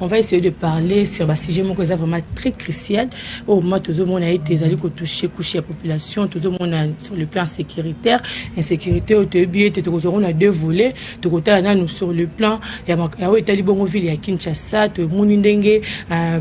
on va essayer de parler sur ba sujet moko eza vraiment très crucial oyo moma tozomona ete ezali kotouche couche ya population tozomona sur le plan sécuritaire insécurité oyo toyebi ete tokozwa ngo na deux volets tokotala nanu sur le plan ya oyo etali bongo ville ya kinshasa tomoni ndenge un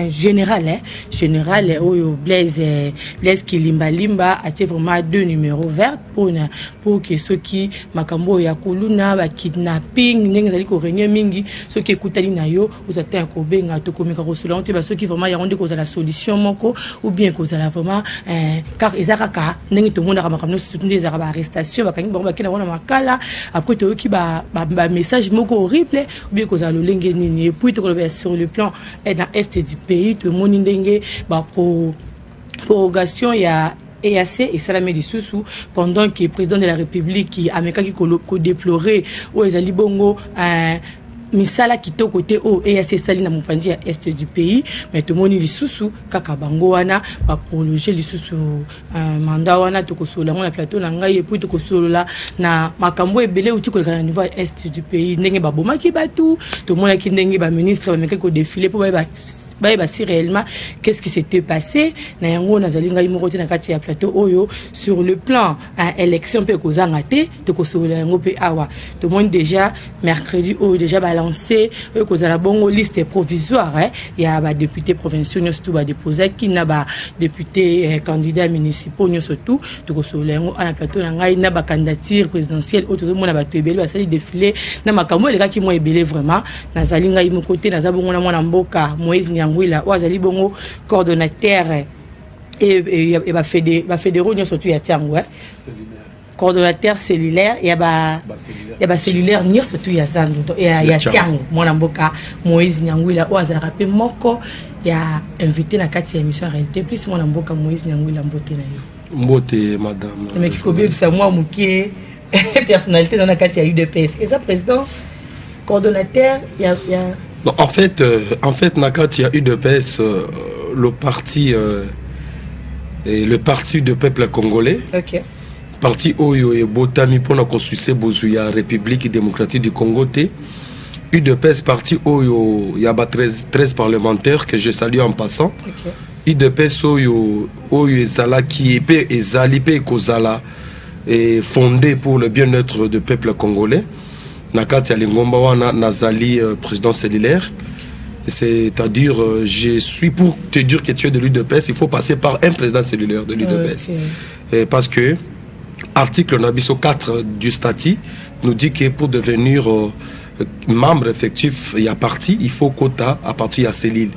général eh, général oyo blaise blaise kilimbalimba atie vraiment deux numéro verte pona pour que soki makambo oyo ya kuluna ba kidnapping ndenge ezali koregne mingi soki ekutani na yo ozwa ntan ya kobenga tokomeka kosolola yango te ba soki vraiment yango nde kozala solution moko ou bien kozala vraiment eh, eza kaka ndenge tomonaka makambo nyonso surtout nde ezalaka baarrestation bakangi bango bakenda yango na makala après toyoki bamessage moko horrible ou bien kozala lolenge nini epuis tokolobela sur le plan eh, na est du pays tomoni ndenge baprorogation ya EAC esalami lisusu pendant que président de la République amekaki ko déplorer oyo ezali bongo euh, misala kitoko te oyo EAC esali na mopanzi ya est du pays mais tomoni lisusu kaka bango wana baprologe lisusu euh, mandat wana tokosolola yango na plateau na ngai epuis tokosolola na makambo ebele euti koleka na niveau ya est du pays ndenge babomaki bato tomonaki ndenge baministre bamekaki kodefile mpo baye bayeba si réellement qu'est ce qui s'était passé na yango nazali ngai moko te na kati ya plateau oyo sur le plan ya élection mpe ekozanga te tokosolola yango mpe awa tomoni déjà mercredi oyo déjà balance oyo ekozala bongo liste provisoire eh, ya badéputé provinciaux nyonso tu badepozaki na badéputé eh, candidat municipaux nyonso tu tokosolola yango ana plateau na ngai na bacandidature présidentielle oyo tozomona bato ebele basali défilé na makambo elekaki mwa ebele vraiment nazali ngai moko te naza bongo na mwana mboka moise nyangwila oyo azali bongo coordonnateur ya bafedero nyonso tu ya ntiango eh? coordonnateur cellulaire ya bacellulaire nyonso tu ya zando ya ntiango mwana mboka moise nyangwila oyo azalaka mpe moko ya invité na kati ya émission réalité plus mwana mboka moise nyangwila mbote na yo mbote madame emeki kobebisa mwa moke personnalité dans la carte ya udps eza président coordonnateur ya, ya... Non, en fait euh, en fait na carte ya udps euh, le parti euh, et le parti de peuple congolais okay. parti oyo ebotami mpona kosuse bozwi ya république démocratique du congo te udps parti oyo ya ba 13, 13 parlementaires que je salue en passant okay. udps oyo oyo ezalaki mpe ezali mpe ekozala et fondé pour le bien-être de peuple congolais na kati ya lingomba wana nazali euh, président cellulaire c'est-à-dire euh, je suis pour te dire que tu es de l'UDPS il faut passer par un président cellulaire de l'UDPS okay. Euh, parce que article na biso 4 du statut nous dit que pour devenir membre effectif ya parti il faut quota à partir ya cellule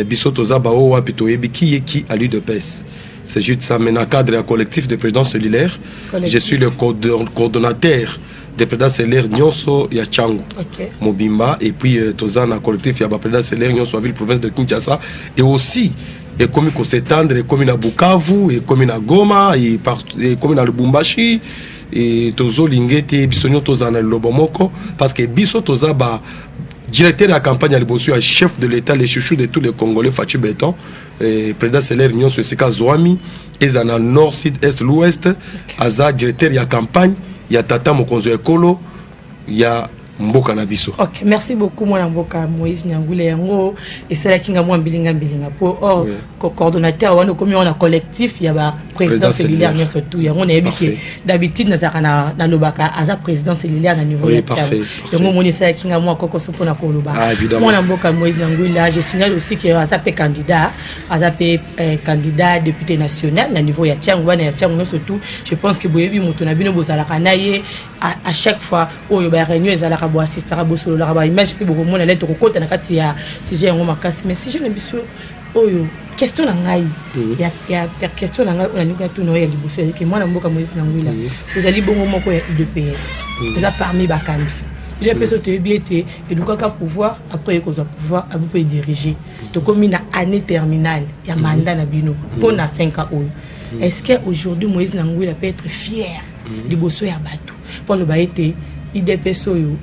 biso toza baoyo wapi toyebi qui est qui à l'UDPS C'est juste ça, mais dans le cadre du collectif des présidents solidaires, collectif. je suis le coordonnateur des présidents solidaires Nyonso ya Changu, okay. Mobimba, et puis euh, Tozan, un collectif, il y a président solidaire Nyonso à ville province de Kinshasa, et aussi ekomi kosetandre ekomi na bukavu ekomi na goma ekomi na lubumbashi e tozolinga ete biso nyonso tozala na lilobo moko parce que biso toza ba directeur ya campagne ya liboso ya chef de l'état le chouchou de tous les congolais faci beton Eh, président selaire nyonso esika azwami eza na nord sud est l'ouest okay. aza directeur ya campagne ya tata mokonzi ya ekolo ya mboka na biso okay, merci beaucoup mwana mboka moïse nyangule yango esalaki nga mwa mbilinga mbilinga mpo or oui. coordonnateur wana okomi wana collectif ya ba président cellulaire nyonso tout yango nayebi ke d'habitude nazalaka nalobaka aza président cellulaire na niveau oui, ya yango omoni esalaki nga mwa kokoso mpona koloba ah, mwana mboka moise na nguila je signale aussi que aza mpe candidat aza mpe eh, candidat député national na niveau ya tiango bana ya tiango nyonso tout je pense que boyebi moto na bino bozalaka na ye à chaque fois oyo ba réunion ezalaka boassistaka bosololaka baimage mpe bokomona lete kokota na kati ya sujet yango makasi mais sujet na biso oyo question na ngai mhm. ya question na ngai oyo nalingi natuna oyo ya liboso ezalaki mwana mboka moïse na ngwila mhm. ozali bongo moko ya udps mhm. eza parmi bakambi udps oyo toyebi ete elukaka pouvoir après ye kozwa pouvoir abi mpo edirige tokomi na année terminale ya mandat na bino mpo na 5 ans oyo est ce que aujourd'hui moïse na ngwila peut être fier liboso ya bato mpo aloba ete udps oyo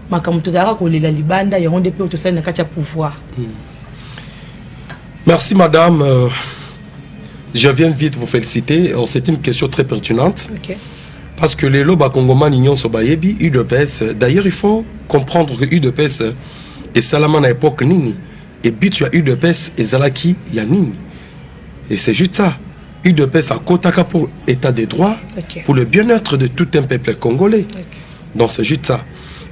makambo tozalaka kolela libanda yango nde mpe oyo tosali na kati ya pouvoir hmm. merci madame euh, je viens vite vous féliciter euh, c'est une question très pertinente okay. parce que lelo bakongomani nyonso bayebi udps d'ailleurs il faut comprendre que udps esalama na époque nini et but ya udps ezalaki ya nini et c'est juste ça udps akotaka pour état de droit okay. pour le bien-être de tout un peuple congolais okay. donc c'est juste ça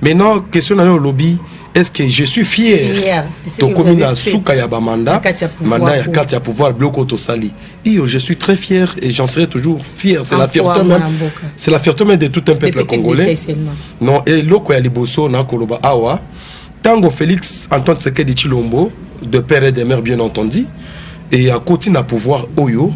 maintenant question nayo olobi est ce que je suis fier yeah, tokomi na suka ya bamanda manda ya karte ya pouvoir biloko tosali iyo je suis très fier et j'en serai toujours fier c'est la fierté même c'est la fierté même de tout un peuple congolais non eloko ya liboso nakoloba awa ntango félix antoine sekedi chilombo de père et de mère bien entendu et akoti na pouvoir oyo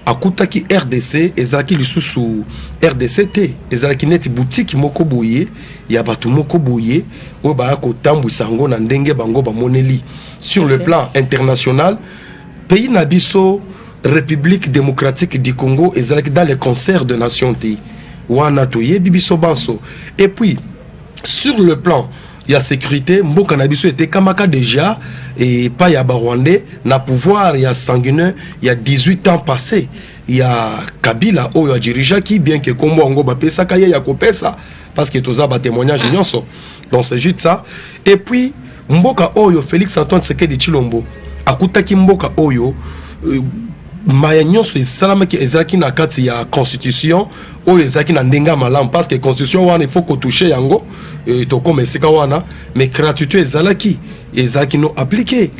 akutaki rdc ezalaki lisusu rdc te ezalaki neti butiki moko boye ya bato moko boye oyo baya kotambwisa yango na ndenge bango bamoneli sur okay. le plan international pays na biso république démocratique du congo ezalaki dans le concert de nation te wana toyebi biso banso epuis sur le plan ya sécurité mboka na biso etekamaka déjà epai ya barwandais na pouvoir ya sanguineux ya 18 ans passé ya kabila oyo adirigeaki bien ke nkombo yango bapesaka ye ya kopesa parce que toza batémoignage nyonso donc c'est juste ça et puis mboka oyo Felix Antoine Sekedi Chilombo akutaki mboka oyo euh, mbaya nyonso esalamaki ezalaki na kati ya constitution oyo ezalaki na ndenge ya malamu parce que constitution wana il faut kotouche yango euh, tokoma esika wana mais gratuité ezalaki ezalaki no appliqué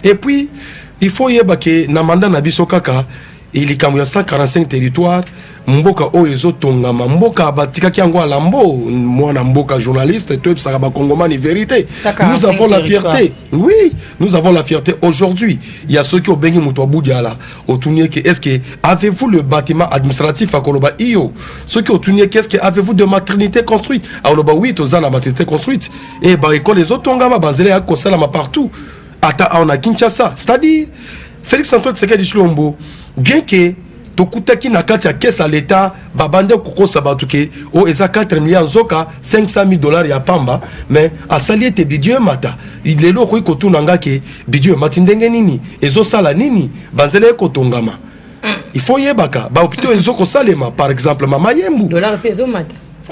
et puis il faut yeba ke na mandat na biso kaka e likambo ya 145 territoire mboka oyo ezotongama mboka batikaki yango alambo mwana mboka journaliste toyebisaka bakongomani vérité nous avons la fierté oui nous avons la fierté aujourd'hui ya soki obengi moto ya budiala otuni eke est ce que avez vous le bâtiment administratif akoloba iyo soki otuni eke est ce que avez vous de maternité construite akoloba oui toza na maternité construite e eh, baekole ezotongama banzela ya kosalama partout ata awa na kinshasa c'est-à-dire félix antoine tshisekedi tshilombo bien ke tokutaki na kati ya kese ya leta babanda kokosa bato ke o oh, eza 4 milliard nzoka 500 000 dollars ya pamba mais asali ete bidio emata lelo okoki kotuna nga ke bidio emati ndenge nini ezosala nini banzela ekotongama mm. il faut yebaka bahopitau ezokosalema par exemple mama yembu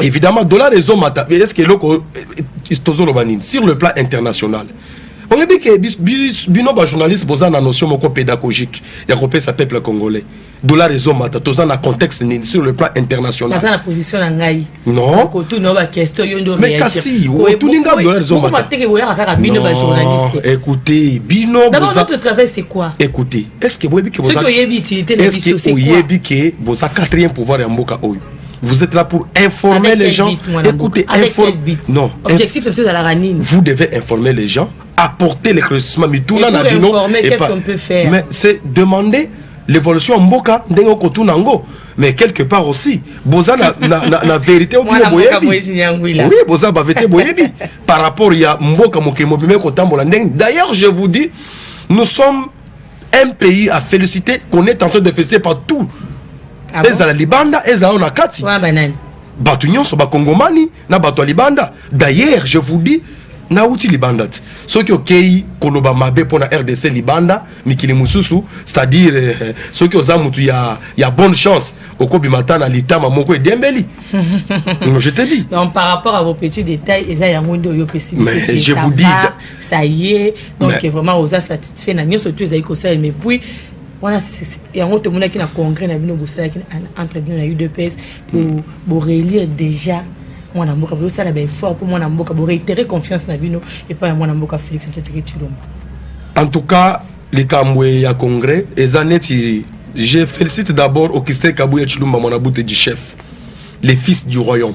évidemment dollar ezomata est ce que eloko tozoloba nini sur le plan international oyebi ke bino bajournaliste boza na notion moko pédagogique ya kopesa peuple congolais dollar ezomata toza na contexte nini sur le plan international aza na position na ngai non kotuna ba question yo nde mais kasi otuni nga dollar ezomata teke boyaka kaka bino ba journaliste écoutez bino d'abord notre travail c'est quoi écoutez est-ce que boyebi ke boza ce que oyebi utilité na biso c'est quoi oyebi ke boza quatrième pouvoir ya mboka oyo Vous êtes là pour informer Avec les gens. But, Écoutez, informer. Non. Objectif, c'est la ranine. Vous devez informer les gens, apporter l'éclaircissement. Mais tout là, qu'est-ce qu'on peut faire Mais c'est demander l'évolution en boka ndengo kotuna ngo mais quelque part aussi boza na, na, na, na vérité au bien boyebi oui boza ba vérité boyebi par rapport ya mboka mokili mobimbe kotambola ndenge d'ailleurs je vous dis nous sommes un pays à féliciter qu'on est en train de féliciter partout ah ezala bon? libanda ezala na kati bato nyonso bakongomani na bato ya libanda d'ailleurs je vous dis nauti libanda te soki okei koloba mabe mpo na rdc libanda mikili mosusu c'est-à-dire eh, eh, soki oza motu ya, ya bonne chance okobima ata na litama moko edembeli je te dis donc par rapport à vos petits détails eza yango nde oyo opesi je vous dis ça y est donc mais... vraiment oza satisfait na nyonso tu ezali kosala mais puis wana yango tomonaki na congrès na bino bosalaki entre bino na udps borelire déjà mwana mboka bozosala baeffort mpo mwana mboka boreitere confiance na bino epai ya mwana mboka félix antoine tshilombo en tout cas likambo ya congrès eza neti je félicite d'abord augustin kabuya tshilumba mwana bute du chef les fils du royaume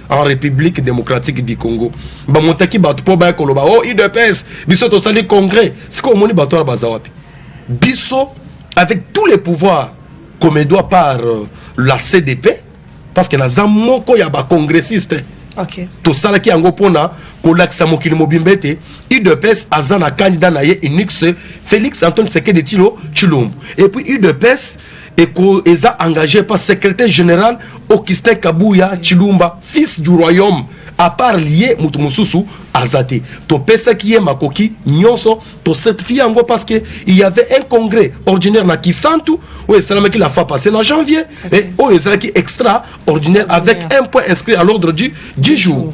en république démocratique du congo bamotaki bato mpo baya koloba o oh, udps biso tosali congrès sikoyo omoni bato wana baza wapi biso avec tous les pouvoirs comme edoit par euh, la cdp parce que naza moko ya bacongressiste okay. tosalaki yango mpona kolakisa mokili mobimba ete udps aza na candidat na ye unix félix antoine tseke de tilo tshilombo epuis udps eko eza engagé par secrétaire général augustin kabuya chilumba fils du royaume à part ye moto mosusu aza te topesaki ye makoki nyonso tocertifie yango parce que il y avait un congrès ordinaire na kisantu oyo esalamaki la fois passé na janvier eh, oyo ezalaki extra ordinaire avec un point inscrit à l'ordre du, du jour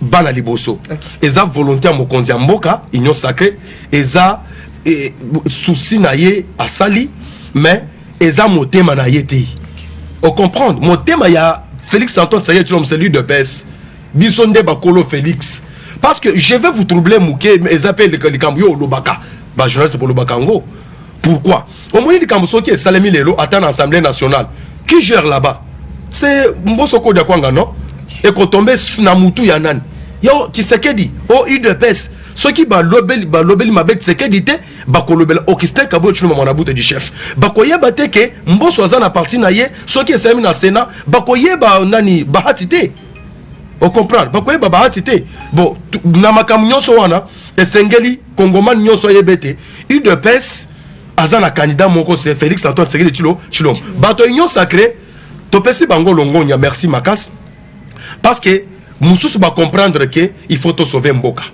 bana liboso eza volonté ya mokonzi ya mboka union sacré eza eh, souci na ye asali mais eza motema na ye te ocomprendre motema ya félix antoine saye tilom celui de pes biso nde bakolo félix parce que je vais vous troubler moke eza mpe likambo yo olobaka bajournaliste bolobaka yango pourquoi omoni likambo soki esalemi lelo ata na assemblée nationale qui gère là-bas c'est mboso kodia kwanga non ekotombe na mutu ya nani yo tshisekedi o udps soki balobeli balobeli mabe tshisekedi te bakolobela augustin kabuya tshiluma mwana bute du chef bakoyeba te ke mboso aza na parti na ye soki esalemi na senat bakoyeba nani bahati te ocomprendre bakoyeba bahati te bon na makambo nyonso wana esengeli kongomani nyonso ayeba ete udps aza na candidat moko se félix antoine sekeli chilo chilo bato union sacré topesi bango longonya merci makasi parce que mosusu bacomprendre ke il faut tosauve mboka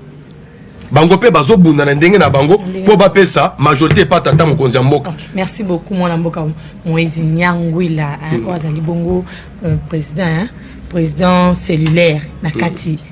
bango mpe bazobunda na ndenge na bango mpo bapesa majorité epa tata mokonzi ya mboka okay. merci beaucoup mwana mboka moise nyangwila mm. oyo azali bongo euh, président hein? président cellulaire na kati mm.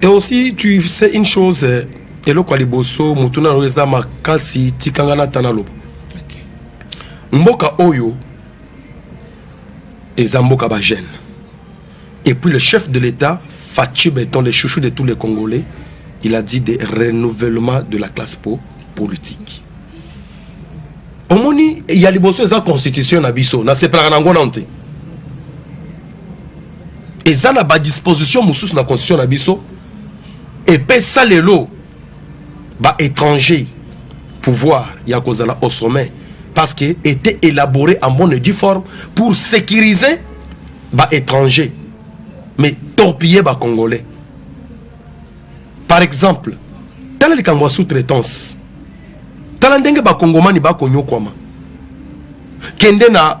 et aussi tu sais une chose eh, eloko ya liboso motu na yango eza makasi tikanga na tana loba mboka oyo eza mboka bagene et puis le chef de l'état fachi beton le chouchou de tous les congolais il a dit de renouvellement de la classe po politique omoni ya liboso eza constitution na biso nasepelaka na yango nano te eza na badisposition mosusu na constitution na biso epesa lelo baétranger pouvoir ya kozala au sommet parce que était élaboré en bonne et due forme pour sécuriser baétranger mais torpiller bacongolais par exemple tala likambo ya sous-traitance tala ndenge bakongomani bakonyokwama kende na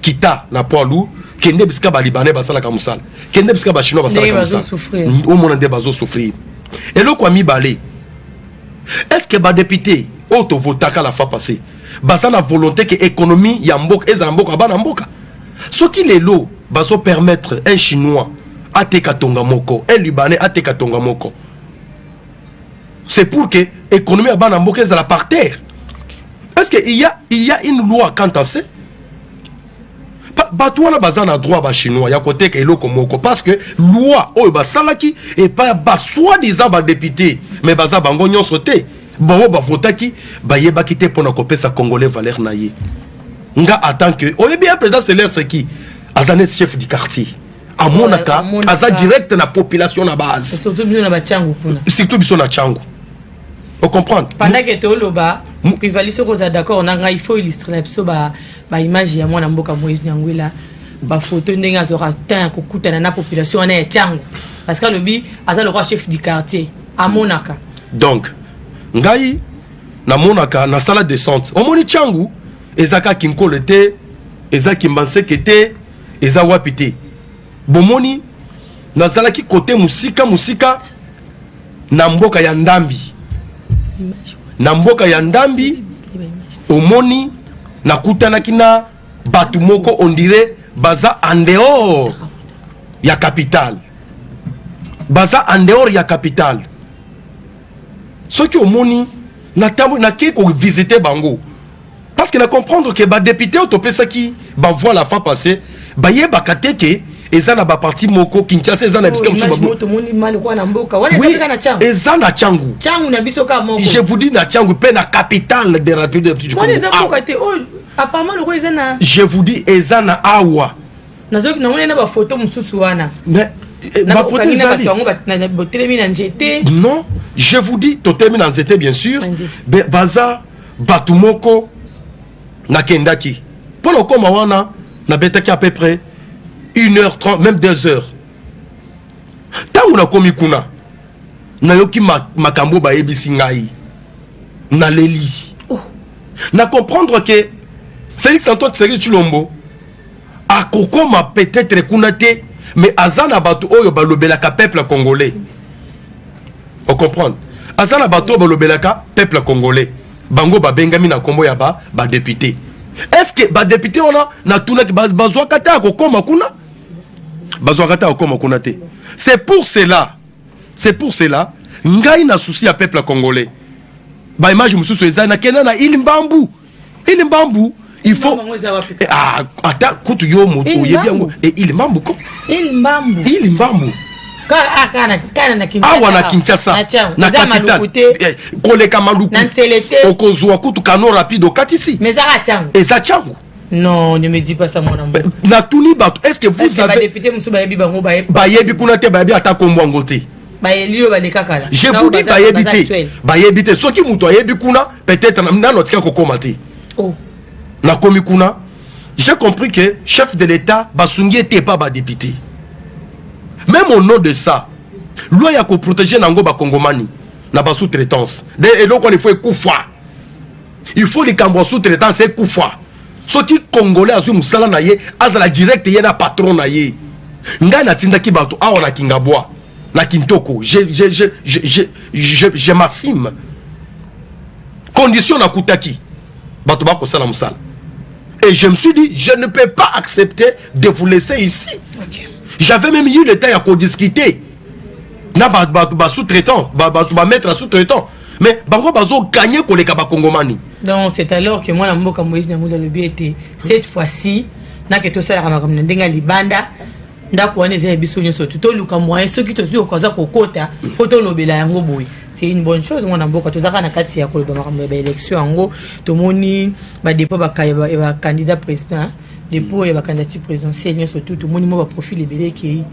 kita na poids lourd kende bisika balibanais basalaka mosala kende bisika bachinois basalaka mosala omona nde bazosouffrir eloko ya mibale est ce que badepute oyo tovotaka la fois passé baza na volonté ke économie ya mboka ezala mboka bana mboka soki lelo bazopermettre un chinois ateka tonga moko un libanais ateka tonga moko c'est pour que économie ya bana mboka ezala par terre est-ce que il y a, il y a une loi quant à ça bato wana baza na droit bachinois ya koteka eloko moko parce que loi oyo basalaki epai basoi disant badepute mais baza bango nyonso te bango bavotaki bayebaki te mpo na kopesa congolais valeur na ye nga atant que oyebi ya président selaire seki aza neti chef du quartier amonaka aza direct na population na base surtout biso na bachangu kuna surtout biso na changu ocomprendre pendant ke toloba privali soki oza d'accord na ngai il faut illustre na biso baimage ya mwana mboka moïse nyangwela bafoto ndenge azwaka temps ya kokutana na population wana ya changu parce que alobi aza lokola chef du quartier amonaka donc ngai namonaka nasala descente omoni changu ezaka kinkolo te eza kimbanseke te eza wapi te bomoni nazalaki kote mosika mosika na mboka ya ndambi na mboka ya ndambi omoni nakutanaki na bato moko ondire baza en dehors ya capitale baza en dehors ya capitale soki omoni nakei kovisite bango parce que na comprendre que badepute oyo topesaki bavoi la fois passé bayebaka te ke eza na baparti moko kinshasa eza na bisika mosusu eza na cangu je vous dis na cangu mpe na capitale de rapide je vous dis eza na awa nazoki nango na bafoto mosusu wana mais eh, bafoto ezali botelemi na nzete non je vous dis totelemi na nzete bien sûr baza bato moko nakendaki mpo nakoma wana nabetaki à peu près une heure 30 même deux heures ntango nakomi kuna nayoki makambo bayebisi ngai naleli oh. na comprendre ke félix antoine tshisekedi tshilombo akokoma peut-être kuna te mais aza na bato oyo balobelaka peuple congolais ocomprendre aza na bato oyo balobelaka peuple congolais bango babengami na nkombo ya badepute ba est ce que badepute wana natunaki bazwaka te akokoma kuna bazwaka te akokoma kuna te c'est pour cela c'est pour cela ngai na souci ya peuple congolais baimage mosusu eza nakenda na ile mbambu Ili mbambu il faut eh, ah, ata kutu yo moto oyebi yango eh, ili mbambu ko ili mbambu ili mbambu awa na kinshasa na capitale eh, koleka maluku okozwa kutu kano rapide okatisi eza cango non ne me dis pas ça mwana mboka natuni bato est ce que vous avez bayebi kuna te bayebi ata kombo yango te bayeli oyo baleka kala je vous dis bayebi te bayebi te soki moto ayebi kuna peut-être nano atika kokoma te oh. nakomi kuna j'ai compris que chef de l'état basungi ete epa badepute même au nom de ça loi ya koprotege na yango bakongomani na basous-traitance de eloko wana ifo ekufa il faut likambo ya sous-traitance ekufa soki congolais azwi mosala na ye azala direct ye na patron na ye ngai natindaki bato awa na kingabwa na kintoko je, je, je, je, je, je, je masime condition nakutaki bato bakosala mosala et je me suis dit je ne peux pas accepter de vous laisser ici okay. j'avais même eu le temps ya kodiscuter na basous-traitant bato bamettre ya sous-traitant mais bango bazo gagner koleka bakongomani donc c'est alors que mwana mboka moïse nyanguda alobi ete cette fois-ci nake tosalaka makambo na ndenge ya libanda ndako wana eza ya biso nyonso tu toluka moyen soki tozwi okoza kokota mpo tolobela yango boye c'est une bonne chose mwana mboka tozalaka na kati ya koloba makambo ya baélection yango tomoni badepo ya bacandidat président depo ya bacandidature présidentielle nyonso tu tomoni mwa baprofil ebele ekei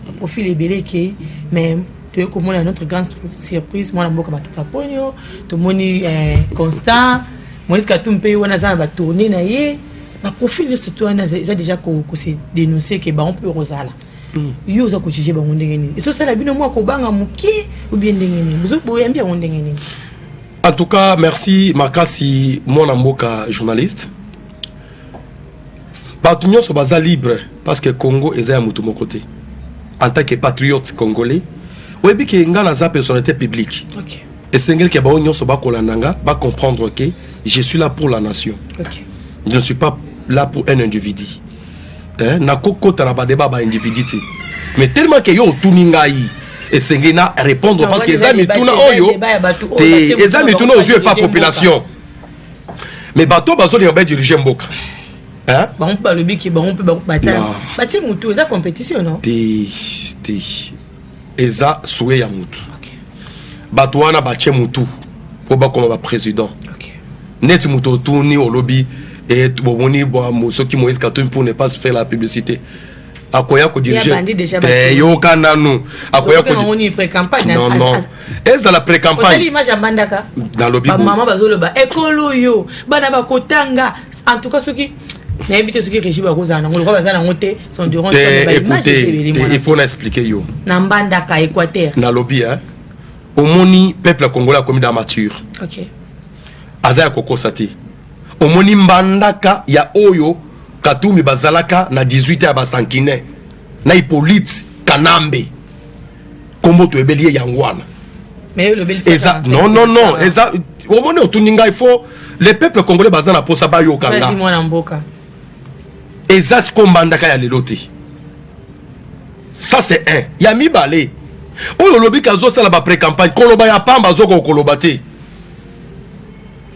baprofil ebele ekei mais toyei komona notre grande surprise mwana mboka matata ponio tomoni eh, constant moïse katumbi mpe ye wana aza na batourne na ye baprofil nyonso to wana eza déjà kose dénonce ke bango mpe okozala mm. yo oza kojuge bango ndenge nini ezosala bino mwa kobanga moke obie ndenge nini boyambi yango ndenge nini en tout cas merci makasi mwana mboka journaliste bato nyonso baza libre parce que congo eza ya moto moko te en tant que patriote congolais oyebi ke ngai naza personnalité publique okay. esengeli ke bango nyonso bakolanda nga bacomprendre ke je suis là pour la nation okay. je ne suis pas là pour un individu eh, nakokota na badeba baindividu te mais tellement ke yo otuni ngai esengeli na répondre parce que eza mituna oyo te eza mituna ozwi epa population mais bato oyo bazolinga badirige mboka bango mpe balobi ke bango mpe batie motu eza compétition no te te eza souye ya motu bato wana batie motu mpo bakoma baprésident neti moto otuni olobi eh, bomoni soki moïse katumbi pour ne pas faire la publicité akoya kodirigeyooka nanu akoya ezala precampagnenalobimama bazoloba ekolo oyo bana bakotanga en tout cas soki nayebi te soki régime akozala nango lokola baza nango te sonduranceifo na explike yo na mbandaka équateur nalobi omoni peuple ya congolais akomi da mature aza ya kokosa te omoni mbandaka ya oyo katumbi bazalaka na 18 ya basankine na ipolite kanambe kombo toyebeli ye yango wana eza non non non eza omoni otuni ngai fo le peuple congolais baza na mposa bayoka nga eza siko mbandaka ya lelo te ça c'est un ya mibale oyo olobi ke azosala bapre campagne koloba ya pamba azokoka koloba te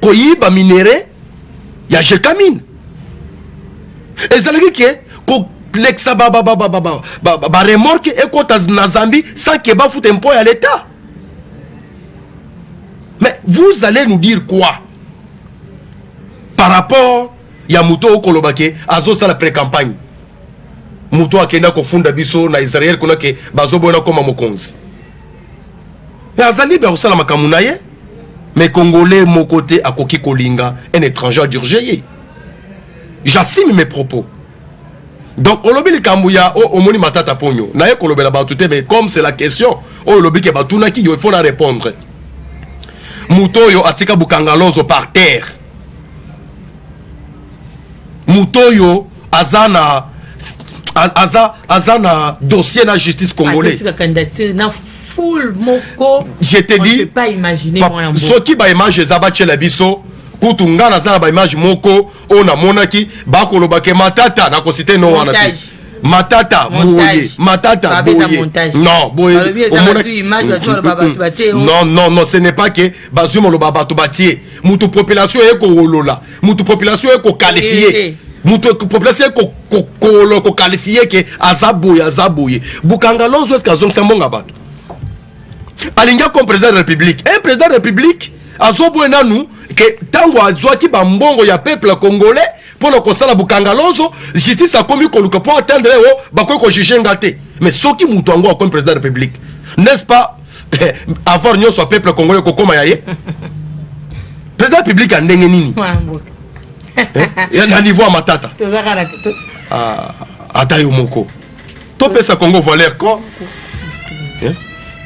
koyiba minere ya jekamine ezalaki ke kolekisa baremorke ekota na zambie sans ke bafuta impôt ya leta mais vous allez nous dire quoi par rapport ya moto oyo koloba ke azosala precampagne moto akenda kofunda biso na israel kuna ke bazoboya nakoma mokonzi mais aza libre ya kosala makambo na ye mais congolais moko te akoki kolinga un étranger adurge ye j'assume mes propos donc olobi likambo ya oh, omoni matata ponyo naye kolobela bato te mais comme c'est la question oyo oh, olobi ke batunaki yo il faut na répondre moto oyo atika bukangalozo par terre moto oyo aza na aza aza na dossier na justice congolais na full moko je te dis pas imaginer mwana mboka soki ba image eza batiela biso kutu ngai naza na ba image moko oyo namonaki bakoloba ke matata nakosite no wana te matata boye matata boye non boye omonaki non non non ce n'est pas que bazwi moloba bato batie moto population eye kowolola mutu population ye kokalifie eh, eh. mutu population ye kokalifie ke aza boye aza boye bukanga lonzo eske azongisa mbonga bato alingi akoma président de république un président de république azoboye nanu ke ntango azwaki bambongo ya peuple congolais mpo na kosala bukanga lonzo justice akomi koluka mpo atendre o oh, bakoki kojuge nga te mais soki moto yango akomi président de république n'est ce pas avoir nyonso ya peuple congolais kokoma ya ye président public ya ndenge nini eh? na niveau ya matata ah, ata yo moko topesa congo valeur ko eh?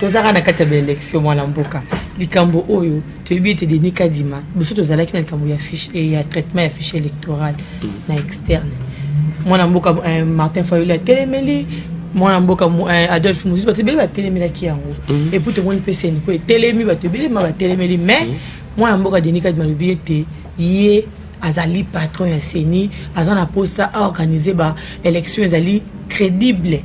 tozaka na kati ya baélection mwana mboka likambo oyo toyebi ete denis kadima biso tozalaki na likambo ya fiche eh, ya traitement ya fiche électoral mm. na externe mwana mboka eh, martin fayoli atelemeli mwana mboka eh, adolphe mosusu bato ebele batelemelaki yango mm. epuis tomoni mpe seniko etelemi bato ebele ma batelemeli mais mm. mwana mboka denis kadima alobi ete ye azali patron ya ceni aza na posa a organiser ba élection ezali crédible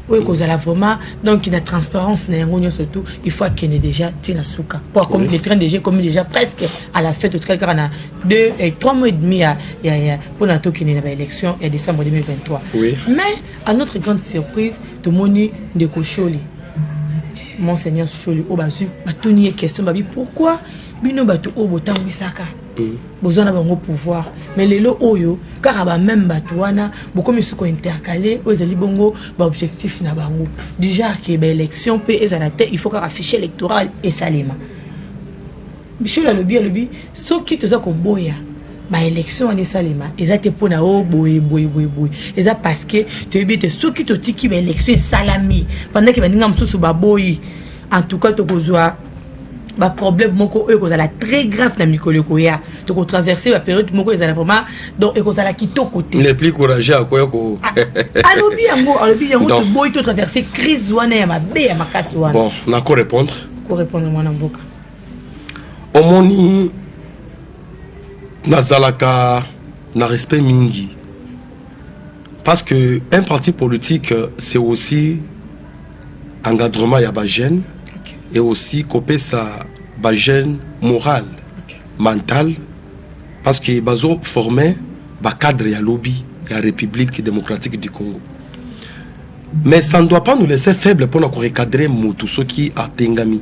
oyo ekozala vraiment donc na transparence na yango nyonso tout il faut akende déjà ti na suka po akomi le train déjà ekomi déjà presque à la fête otikali kaka na deux et trois mois et demi ya ya ya mpo na tokende na baélection ya décembre 2023 oui. mais à notre grande surprise tomoni ndeko sholi monseigneur sholi oyo bazwi batuni ye question babi pourquoi bino bato oyo botambwisaka boza na bango pouvoir mais lelo oyo kaka bameme bato wana bokomi suko intercale oyo ezali bongo baobjectif na bango du genre ke baélection mpe ezala te il faut kaka fichier électoral esalema bisholo alobi alobi soki toza koboya baélection wana esalema eza te mpo na o oh, boye boye boye boye eza parce que toyebi ete soki totiki baélection esalami pendant ke baninga mosusu baboyi en tout cas tokozwa baproblème moko oyo ekozala très grave na mikolo ekoya tokotraverse baperiode moko ezala vraiment donc ekozala kitoko te le plus courageux akoya ko ah, alobi yango alobi yango toboyi totraverse crise wana ya mabe ya makasi wana bon nako répondre ko répondre mwana mboka omoni nazalaka na respect mingi parce que un parti politique c'est aussi encadrement ya ba jeune okay. et aussi kopesa ba jeune moral okay. mental parce que bazo forme ba cadre ya lobi ya république démocratique du congo mais ça ne doit pas nous laisser faible mpona korecadre motu soki atengami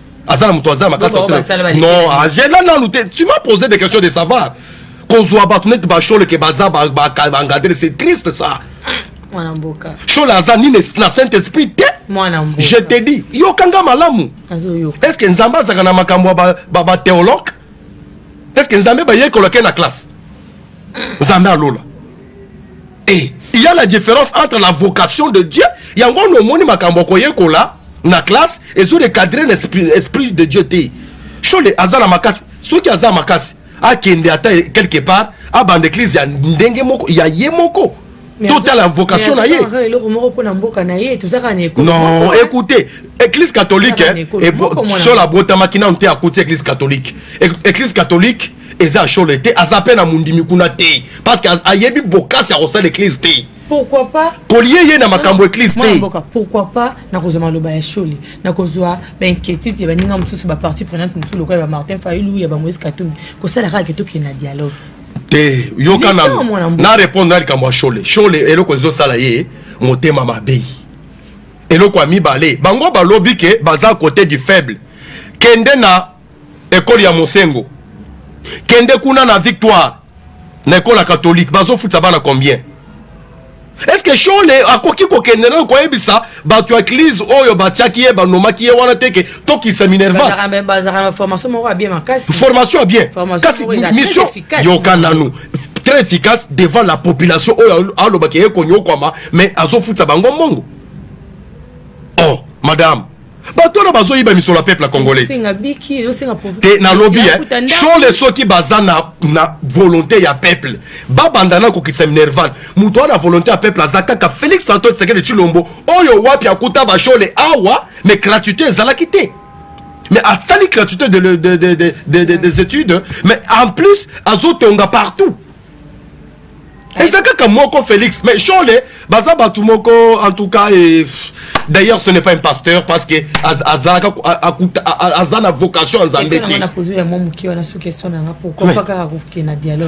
aza na moto aza na makasi non agela ah, nanu te tu m'as posé des questions de savoir kozwa bato neti basholeke baza bangadele c'est triste ça mwana mboka shola aza nini na saint esprit te mwana mboka je te dis yoka nga malamu est ce que nzambe azalaka na makambo ya bateologue est ce que nzambe bayekolake na classe nzambe alola et il y a la différence entre la vocation de dieu yango wana omoni makambo akoyekola na classe ezo recadre na esprit, esprit de dieu te shole aza na makasi soki aza makasi akende ata quelque part abanda eglise ya ndenge moko ya ye moko totala vocation na ye non écoutez église catholique eh, sola abotamaki nano te akuti église catholique église catholique eza shole te aza pe na mondimi kuna te parce que ayebi bokasi ya kosala eglise te pourquoi pas kolie ye na makambo eglise te mboka pourquoi pas nakozwa maloba ya shole nakozwa bainquiétude ya baninga mosusu bapartie prenante mosusu lokola ya bamartin fayulu ya bamoise katumbi kosala kaka ke tokende na dialogue te yoka na na répondre na likambo ya shole shole eloko ezosala ye motema mabe eloko ya mibale bango balobi ke baza côté du faible kende na ekole ya mosengo kende kuna na victoire na ekole ya katolike bazofuta bana combien eske shole akoki kokende nayo koyebisa bato ya eglize oyo batiaki ye banomaki ye wana teke tokisa minervaformation ya bien kasi mission yoka nanu très efficace devant la population oyo alobaki ye konyokwama mais azofuta bango mbongo oh madame bato wana bazoyiba misolo ya peuple congolais te nalobi shole soki baza na, na volonté ya peuple babanda na kokitisa minerval moto wana volonté ya peuple aza kaka félix antoine tshisekedi tshilombo oyo wapi akuta bashole awa mais gratuité ezalaki te mais asali gratuité de, de, de, de, de, de, des études mais en plus azotonga partout eza kaka moko félix mais shole baza bato moko en tout cas et, d'ailleurs ce n'est pas un pasteur parce que azalaka aza na vocation ya nzambe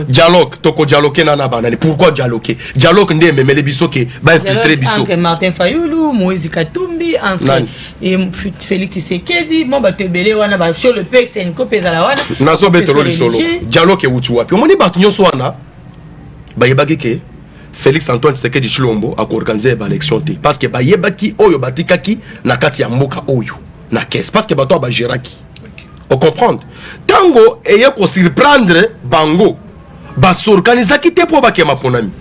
tedialogue tokodialoke na na banani pourquoi dialoke dialogue nde ememeli biso ke bainfiltre biso entre martin fayulu moïse katumbi entre e félix tshisekedi mwa bato ebele wana basio le pe senco mpe ezala wana nazobetelo lisolo dialogue ewuti wapi omoni bato nyonso wana bayebaki ke félix antoine tshisekedi tshilombo akoorganize baélection te parce que bayebaki oyo batikaki na kati ya mboka oyo na kese parce que bato oyo bageraki ocomprendre ntango eye kosurprendre bango basorganisaki te mpo bakema mponami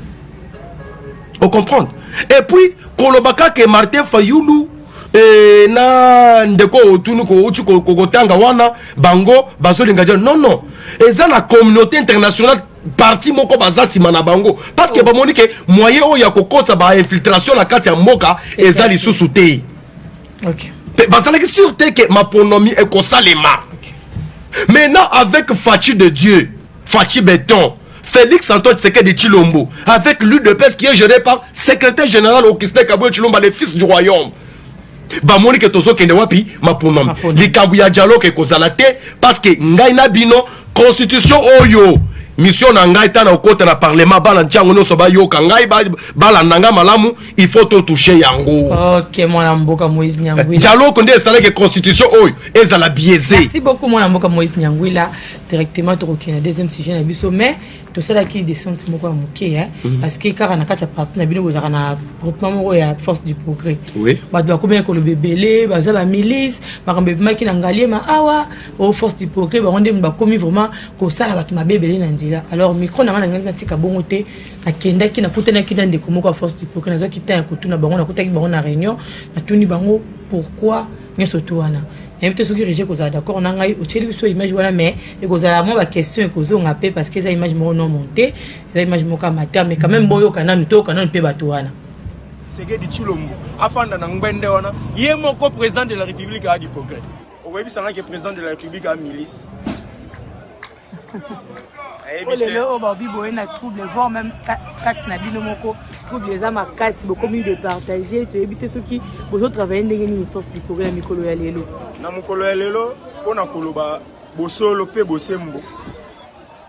o comprendre et puis koloba kaka martin fayulu e, na ndeko otuni kouti kokotanga wana bango bazolinga ja non non eza na communauté internationale parti moko baza nsima na bango parce que oh. bamoni ke moyen oyo ya kokotisa bainfiltration na kati ya mboka eza lisusu te okay. mpe bazalaki sur te ke maponomi ekosalema okay. maintenant avec faci de dieu faci beton Félix Antoine Tshisekedi Chilombo, avec l'UDPS qui est géré par secrétaire général Augustin Kabwe Chilomba, le fils du royaume. bamoni ke tozokende wapi maponami likambo ya dialogue ekozala te parce que ngai na bino constitution oyo mission na ngai ntango okota na parlement bana ntiango nyonso bayoka ngai balanda ngai malamu il faut totouche yango okay, mwana mboka moise nyangwila dialogue nde esalaki constitution oyo ezala biaise merci beaucoup mwana mboka moise nyangwila directement tokokende na deuxième sujet na biso mais tosalaki descente moko ya moke hein, mhm. parce que kaka na kati ya parti na bino bozalaka na groupement moko ya force du progrès bato bakomaki koloba ebele baza bamilice makambo ebimaki na ngaliema awa o oh, force du progrès bango nde bakomi vraiment kosala bato mabe ebele na nzela alors micro na ngai nangaki natika bongo te nakendaki nakutanaki na ndeko moko ya force du progrès nazwaki temps ya kotuna bango nakutaki bango na réunion natuni bango pourquoi nyonso tu wana nayebi te soki regi ekozala d'accord na ngai otyeli biso image wana mais ekozala mwa baquestion ekozonga mpe parce que eza image moko non monte eza image moko ya mata mais quand même boyoka nanu toyoka nanu mpe bato wana sekedi tshilombo afanda na ngbende wana ye moko président de la république aa diprogrès okoyebisa ngai ke président de la république aa milice oyo lelo oyo babi boye na trouble voir même kati na bino moko trouble eza makasi bokomi de partage toyebi te soki bozotravaille ndenge nini force likolo ya mikolo ya lelo na mokolo ya lelo mpo na koloba bosolo mpe bosembo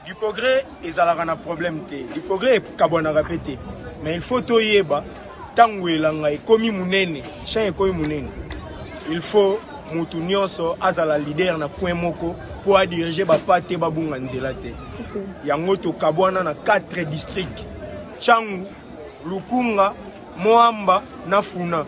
dipogre ezalaka na problème te dipogre ekabwanaka mpe te mais il faut toyeba ntango elanga ekomi monene champ ekomi monene il faut motu nyonso azala leader na coin moko mpo adirige bapa te babunga nzela te yango tokabwana na 4 district changu lukunga moamba na funa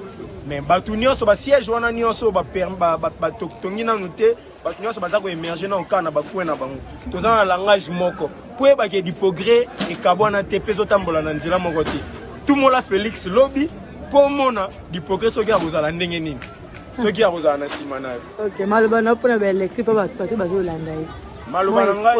me bato nyonso basiège wana nyonso batongi nanu te bato nyonso baza koemerge na okaa na bacoin na bango toza na langage moko mpo eyebake dipogre ekabwana te mpe ezotambola na nzela moko te tumola félix lobi mpo omona dipogre soki akozala ndenge nini soki akozala na nsima na yo maloba na mpona baelexi mpo bato bazolanda ye maloba na ngai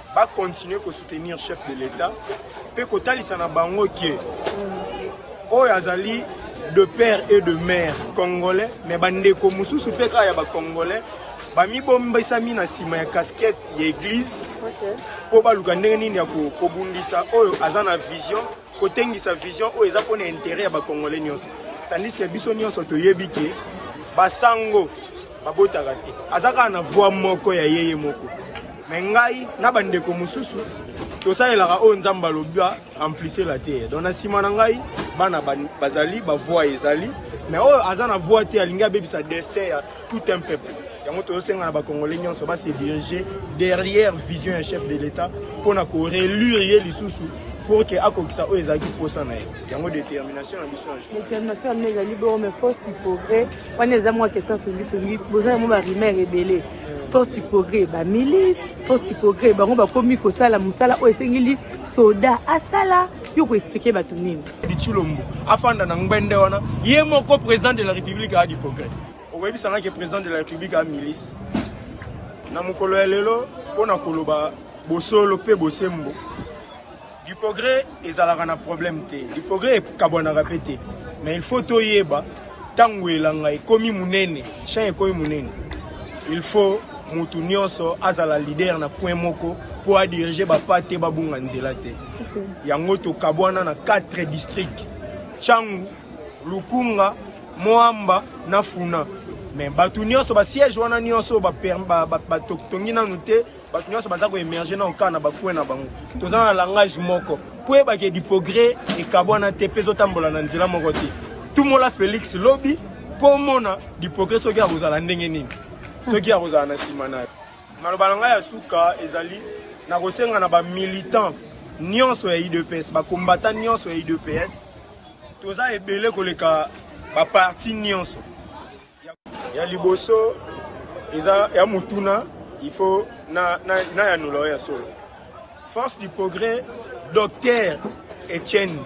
ba continuer ko soutenir chef de l'etat pe kotalisa na bango ke oyo azali de père et de mère congolais mais bandeko mosusu mpe kaka ya bacongolais bamibombisami na nsima ya casquette ya église mpo okay. baluka ndenge nini ya kobundisa oyo aza na vision kotengisa vision oyo eza mpo na intere ya bacongolais nyonso tandis ke biso nyonso toyebi ke basango babotaka te aza kaka na voi moko ya yeye moko me ngai na bandeko mosusu tosalelaka oyo nzambe alobi amplissela te don na nsima na ngai bana bazali bavoi ezali me oyo aza na voi te alingi abebisa destin ya tout un peuple yango tozosenga na bacongolais nyonso base dirige derrière vision ya chef de l'état mpo na korelure ye lisusu pour ke akokisa oyo ezalaki mposa na ye yango détermination na biso détermination yango ezali bongo mais force du progrès wana eza mwa question songisongi boza yango barimere ebele force du progrès bamilise force du progrès bango bakomi kosala mosala oyo esengeli soda asala yo ko expliquer bato nini bitshilombo afanda na ngbende wana ye moko président de la république aa diprogrès okoyebisanga ke président de la république aa milice na mokolo ya lelo mpo na koloba bosolo mpe bosembo diprogrès ezalaka na problème te diprogrès ekabwanaka mpe te mais il faut toyeba ntango elanga ekomi monene champ ekomi monene il faut motu nyonso azala leader na point moko mpo adirige bapa te babunga nzela te yango tokabwana na 4 district changu lukunga moamba na funa me bato nyonso basiège wana nyonso batongi ba, ba, ba, nanu te bato nyonso baza koemerge na okaa na bakue na bango toza na langage moko mpo eyebaka edipogre ekabwana te mpe ezotambola na nzela moko te tumola félix lobi mpo omona dipogre soki akozala ndenge nini soki akozala na nsima na yo Maloba na ngai ya suka ezali na kosenga na ba militants nyonso ya UDPS, ba combattants nyonso ya UDPS, toza ebele koleka ba parti nyonso. Ya liboso eza ya mutuna il faut na na, na ya nula ya solo. Force du progrès, docteur Etienne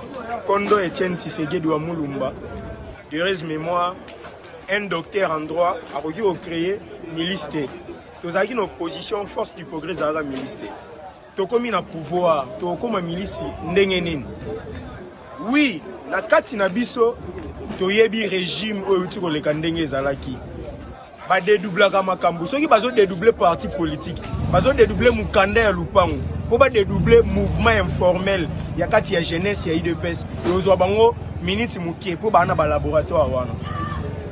Kondo Etienne Tshisekedi wa Mulumba, de heureuse mémoire, un docteur en droit, akoki ko créer milice te. Tozalaki na opposition, force du progrès ezalaka milice te. Tokomi na pouvoir, tokoma milice ndenge nini? Oui, na kati na biso toyebi regime oyo euti koleka ndenge ezalaki. ba dédoublaka makambo soki bazo dédoubler parti politique bazo dédoubler mukanda ya lupango po ba dédoubler mouvement informel ya kati ya jeunesse ya idps ekozwa bango miniti moke po baa na ba laboratoire wana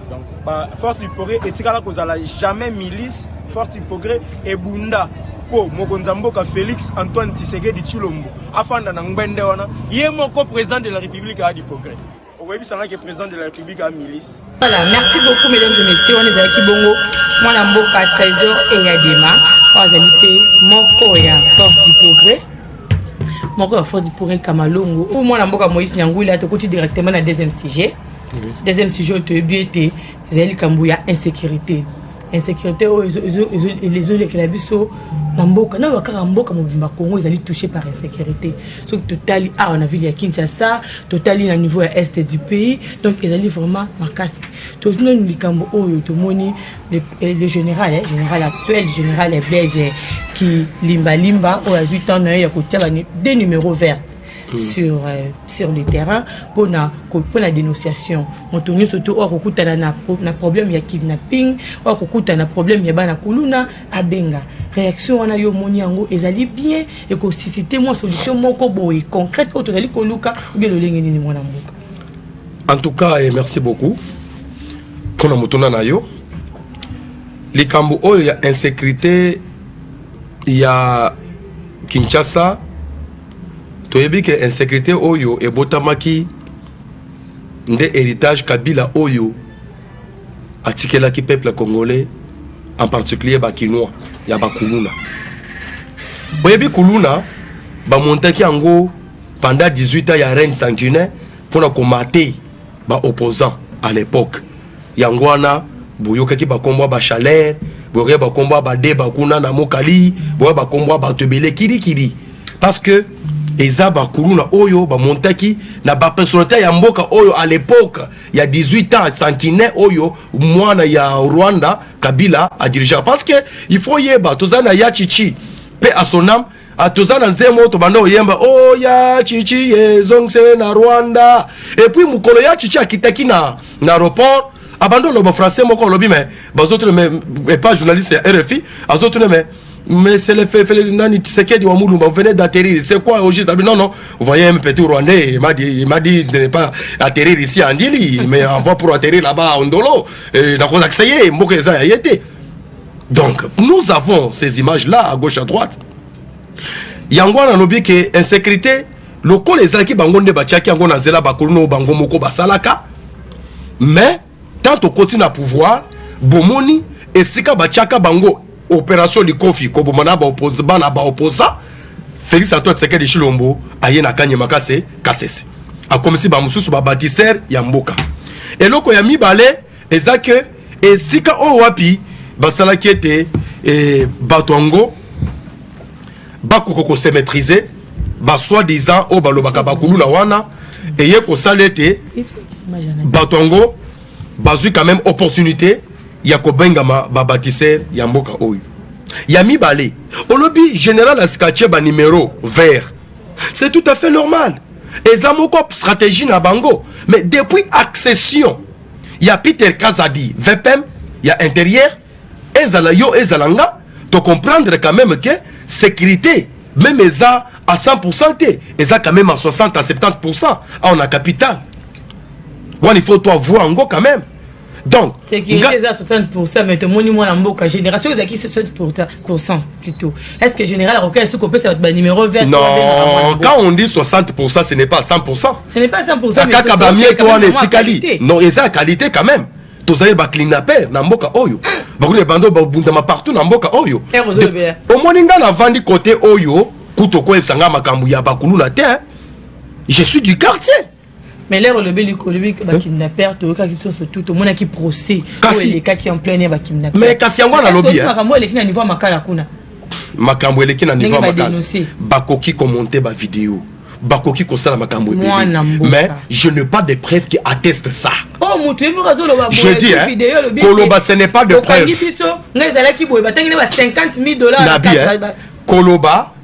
donc ba force du progrès etikala kozala jamais milice force du progrès ebunda mpo mokonzi ya mboka félix antoine tshisekedi tshilombo afanda na ngbende wana ye moko président de la république aa du progrès okoyebisa nga ke président de la république a milice voilà merci beaucoup mesdames et messieurs wana ezalaki bongo mwana mboka trésor eyadema oyo azali mpe moko ya force du progrès moko ya force du progrès kamalongo oyo mwana mboka moïse nyangwila tokoti directement na deuxième sujet deuxième sujet oyo toyebi ete ezali likambo ya insécurité insecurité oyo ezolekela biso na mboka naloba kaka mboka mobimba congo ezali touché par insecurité soki totali awa na ville ya kinshasa totali na niveau ya est du pays donc ezali vraiment makasi tozwi nanu likambo oyo tomoni le eh, général eh, général actuel général eblaise eh, kilimbalimba oyo azwi temps na ye ya kotia ba deux numéro vert Mm. sur, euh, sur le terrain pour la dénonciation moto nyonso te oyo akokutana na, na problème ya kidnapping oyo akokutana na problème ya bana kuluna abenga réaction wana yo omoni yango ezali bien ekosisite mwa solution moko boye concrète oyo tozali koluka obie lolenge nini mwana mboka en tout cas eh, merci beaucoup mpo na motuna na yo likambo oyo ya insécurité ya kinshasa toyebi ke insecurité oyo ebotamaki nde héritage kabila oyo atikelaki peuple congolais en particulier bakinois ya bakuluna boyebi kuluna bamontaki yango pendant 18 ans ya reine sanguinaire mpona komate baopposant à l'époque yango wana boyokaki bakombo ya bachalere boyokaki bakombo ya badeba kuna na mokali boya bakombo ya bato ebele kirikiri parce que eza bakuluna oyo bamontaki na bapersonnalité ya mboka oyo à l'époque ya 18 ans sankinais oyo mwana ya rwanda kabila adirigea parce que il faut yeba toza na ya chichi pe à son âme Ah, toza na nzembo tobanda oyemba o oh, ya chichi ezongise na rwanda epuis mokolo ya chichi akitaki na na aéroport abandi oloba français moko olobi me bazotuna me epa journaliste ya rfi azotuna me mais c'est le fait nani Tshisekedi wa Mulumba vous venez d'atterrir c'est quoi au juste ah, non non vous voyez un petit rwandais il m'a dit il m'a dit de ne pas atterrir ici à Ndili mais on va pour atterrir là-bas à Ondolo et dans Kozaksaye mboka eza ya yete donc nous avons ces images là à gauche à droite yango wana alobi ke insécurité lokola ezalaki bango nde batiaki yango na nzela bakolona oyo bango moko basalaka mais tant tokoti na pouvoir bomoni esika batiaka bango opération likofi koboma na bana baoposa félix antoine tshisekedi tshilombo aye na kanye makase kasese akomisi bamosusu babatisere ya mboka eloko ya mibale eza ke esika oyo wapi basalaki ete eh, bato yango bakoka kosemetrise basoi disant oyo balobaka bakuluna wana eye kosala ete bato yango bazwi quand même opportunité ya kobengama babatisere ya mboka oyo ya mibale olobi général askatie banimero vert c'est tout à fait normal eza moko stratégie na bango mais depuis accession ya peter kazadi vpm ya intérieur ezala yo ezala nga tocomprendre quand même ke sécurité même eza à 100% te eza quand même à 60 à 70% awa na capital wana il faut toi voir yango quand même donc sécurité eza 60 mais tomoni mwana mboka général soki ezalaki 60 plutôt est ce que général akoki esi kopesa bato banuméro vert non quand on dit 60 ce n'est pas 100 ce n'est pas 100 kaka bamieto wana etikali non eza qualité quand même tozali baclinaper na mboka oyo bakuli bando babundama partout na mboka oyo omoni ngai navandi côté oyo kutu okoyebisa ngai makambo ya bakuluna te je suis du quartier mais lere olobeli olobi bakidnapper toyokaki biso nyonso tu tomonaki procès oyo elekaki en plein ya bakidnapper mais kasi yango nalobi eh? makambo eleki na niveau ya makala kuna makambo eleki na niveau ya makala bakoki komonte bavideo bakoki kosala makambo ebele mais je n'ai pas de preuve qui atteste ça oh, je dis hein, koloba ce n'est pas de preuve nabi hein, koloba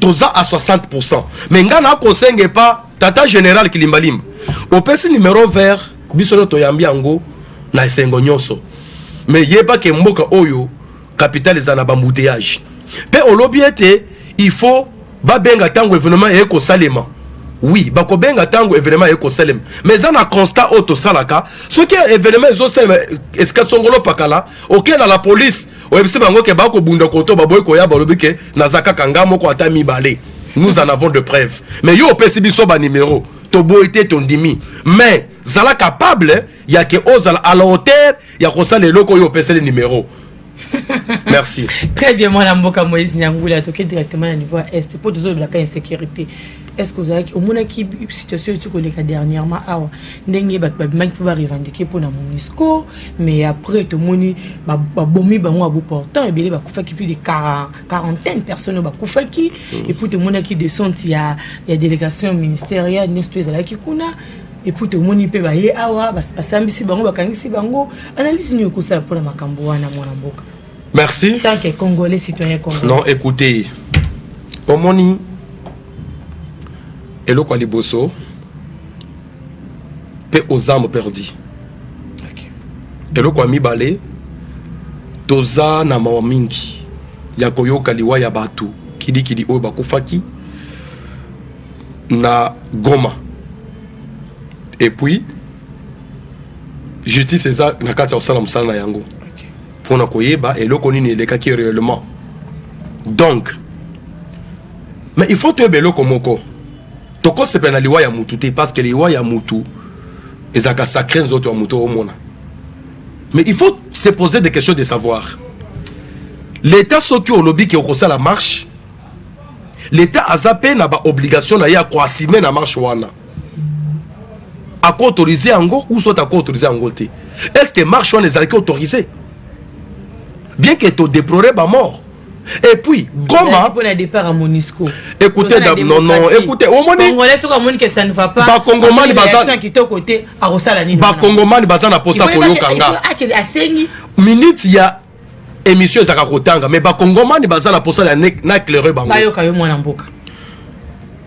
toza a 60 mais ngai na kosenga epa tata général kilimbalimba opesi numero vert biso nio toyambi yango na esengo nyonso me yeba ke mboka oyo kapitale eza na bambouteillage mpe olobi ete il faut babenga ntango evenement eye kosalema oui bakobenga ntango evenement eye kosalema mais eza na constat oyo tosalaka soki evenement ezosalema esika songolo pakala okenda la police oyebisi bango ke bakobunda koto baboyi koya balobi ke naza kaka nga moko ata mibale nous en avons de preuve mais yo opesi biso banimero toboyi te tondimi mais zala capable ya ke ozala à la hauteur ya kosala eloko oyo opeseli nimero merci très bien mwana mboka moïse nyangula toke directement na niveau ya est mpo tozolobelaka insécurité est ce que ozalaki omonaki situation eti koleka dernièrement awa ndenge bato babimaki mpo barevendike mpo na monisco mais après tomoni babomi bango ya boportant ebele bakufaki plus de quarantaine personne oyo bakufaki mm. epuis tomonaki descente ya, ya délégation ministérielle nyonso to ezalaki kuna epuis tomoni mpe baye awa basambisi bango bakangisi bango analyse nini okosala mpo na makambo wana mwana mboka merci tant que congolais citoyen congolais non écoutez omoni eloko ya liboso mpe oza moperdi okay. eloko ya mibale toza na mawa mingi ya koyoka liwa ya bato kidikidi oyo bakufaki na goma epuis justice eza na kati ya kosala mosala na yango mpo na koyeba eloko nini elekaki réellement donc mais il faut toyeba eloko moko tokosepela na liwa ya mutu te parce que liwa ya mutu ezalaka sacré nzoto ya moto omona mais il faut se poser des questions de savoir l'état soki olobi ke okosala marche l'état aza mpe na baobligation na ye ya koasime na marche wana ako autorise yango ou soit ako autorise yango te est ce que marche wana ezalaki autorise bien que todeplore bamort et puis goma pona départ ya monisco écoutez non non écoutez omoni congolais soki amoni que ça ne va pas bakongomani baza kitoko te akosala nini bakongomani baza na posa koyoka nga asengi minute ya émission ezaka kotanga mais bakongomani baza na posala ya na éclaire bango bayoka yo mwana mboka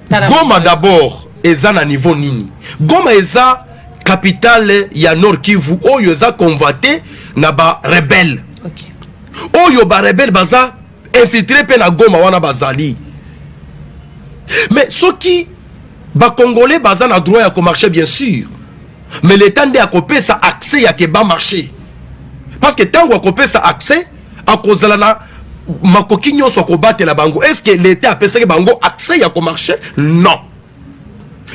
goma d'abord eza na niveau nini goma eza capitale ya nord kivu oyo eza convoite na barebele okay. oyo barebele baza infiltre mpe na goma wana bazali mais soki bacongolais baza na droit ya komarche bien sûr mais leta nde akopesa accès ya keba marché parce que ntango akopesa accès akozala na makoki nyonso ya kobatela bango est ce que leta apesaki bango accès ya komarche non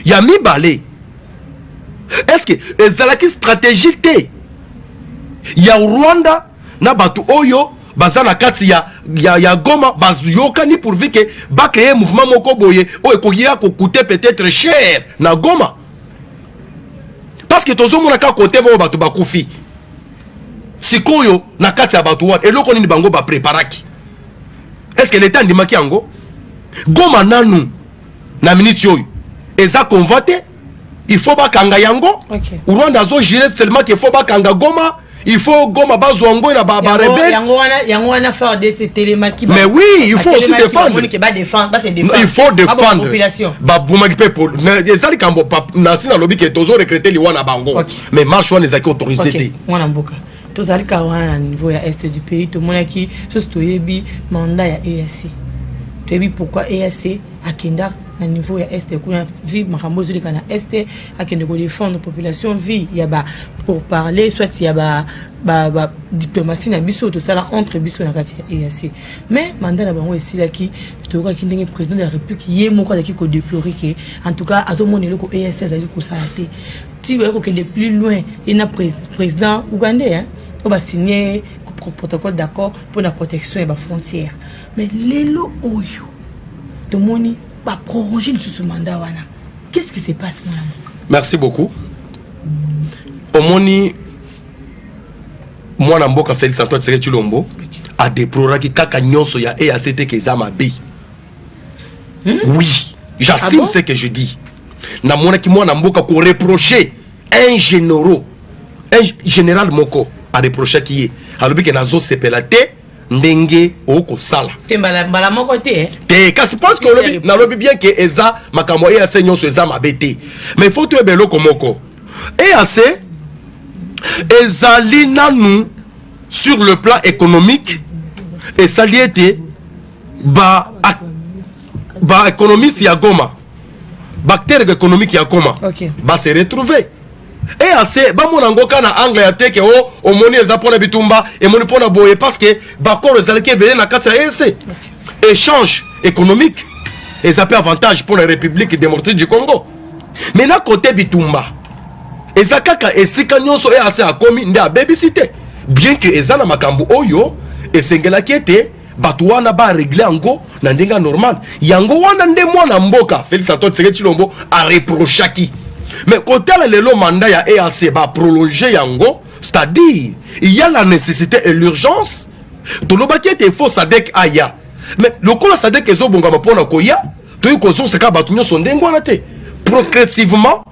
ya mibale est ce que ezalaki stratégie te ya rwanda na bato oyo baza na kati ya, ya, ya goma bayokani pourvu ke bacreye mouvement moko boye oyo ekoki ya kokute peut-être cher na goma parce que tozomona kaka kote moko bato bakufi sikoyo na kati ya bato wana eloko nini bango bapreparaki est ce que leta andimaki yango goma nanu na miniti oyo eza conva te il faut bakanga yango okay. rwanda azojire seulement ke faut bakanga goma il faut goma bazwa ngo na ba rebelle yango wana yango wana FARDC etelemaki mais oui il faut aussi défendre il faut défendre babomaki mpe polo eza likambo nasi nalobi ke tozo recrete liwa na bango mais marche wana ezalaki autorise te mwana mboka tozali kaka wana na niveau ya est du pays tomonaki sosi toyebi mandat ya eac toyebi pourquoi eac akenda na niveau ya est kuna vi makambo ezoleka na est akende ko défendre population vie ya ba pour parler soit ya ba ba, ba diplomatie na biso tosala entre biso na kati ya EAC mais mandat na bango esilaki toyokaki ndenge président de la république ye moko azalaki ko déplorer ke en tout cas azomona eloko EAC azali kosala te ti baye kokende plus loin ye na président ougandais hein, oyo basigne protocole d'accord mpo na protection ya bafrontière mais lelo oyo tomoni baproroge lisusu mandat wana qu'est-ce qui se passe mon amour merci beaucoup omoni mwana mboka félix antoine tseke chilombo adeploraki kaka nyonso ya eac te ke eza mabe hmm? oui j'assume ah bon? ce que je dis namonaki mwana mboka koreproche un généraux un général moko areprochaki ye alobi ke nazosepela te ndenge okosala te mbala, mbala moko te eh? te kasi parce que olobi nalobi bien ke eza makambo ya eac nyonso eza mabe te mais faut toyeba eloko moko eac ezali nanu sur le plan économique esali ete ba, ba économiste ya goma bactère économique ya koma okay. ba se retrouver eac bamona yango ka na angle ya teke o oh, omoni eza mpo na bitumba emoni mpo na boye parce que bakolo ezalaki ebele na kati ya eac échange économique eza mpe avantage mpo na république démocratique du congo mais na kote bitumba eza kaka esika nyonso eac akomi nde abebisi te bien que eza na makambo oyo esengelaki ete bato wana baregle yango na ndenge ya normal yango wana nde mwana mboka félix antoine tseke tshilombo areprochaki mais kotala lelo mandat ya eac baprolonge yango c'est-à-dire il y a la nécessité et l'urgence tolobaki ete fo sadek aya mais lokola sadek ezobongama mpo na koya toyei kozongisa kaka bato nyonso ndenge wana te progressivement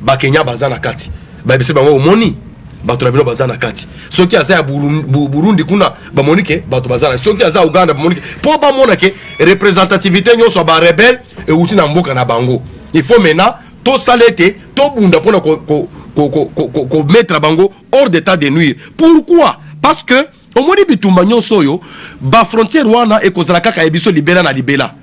ba Kenya baza na kati ba bise bango omoni bato na bino baza na kati soki aza ya burundi kuna bamoni ke bato baza na soki aza uganda bamoni ke mpo bamona ke representativité nyonso ya barebele euti na mboka na bango il faut maintenant tosala ete tobunda mpona komettre bango hors d'état de nuire pourquoi parce que omoni bitumba nyonso oyo bafrontière wana ekozala kaka ya biso libela na libela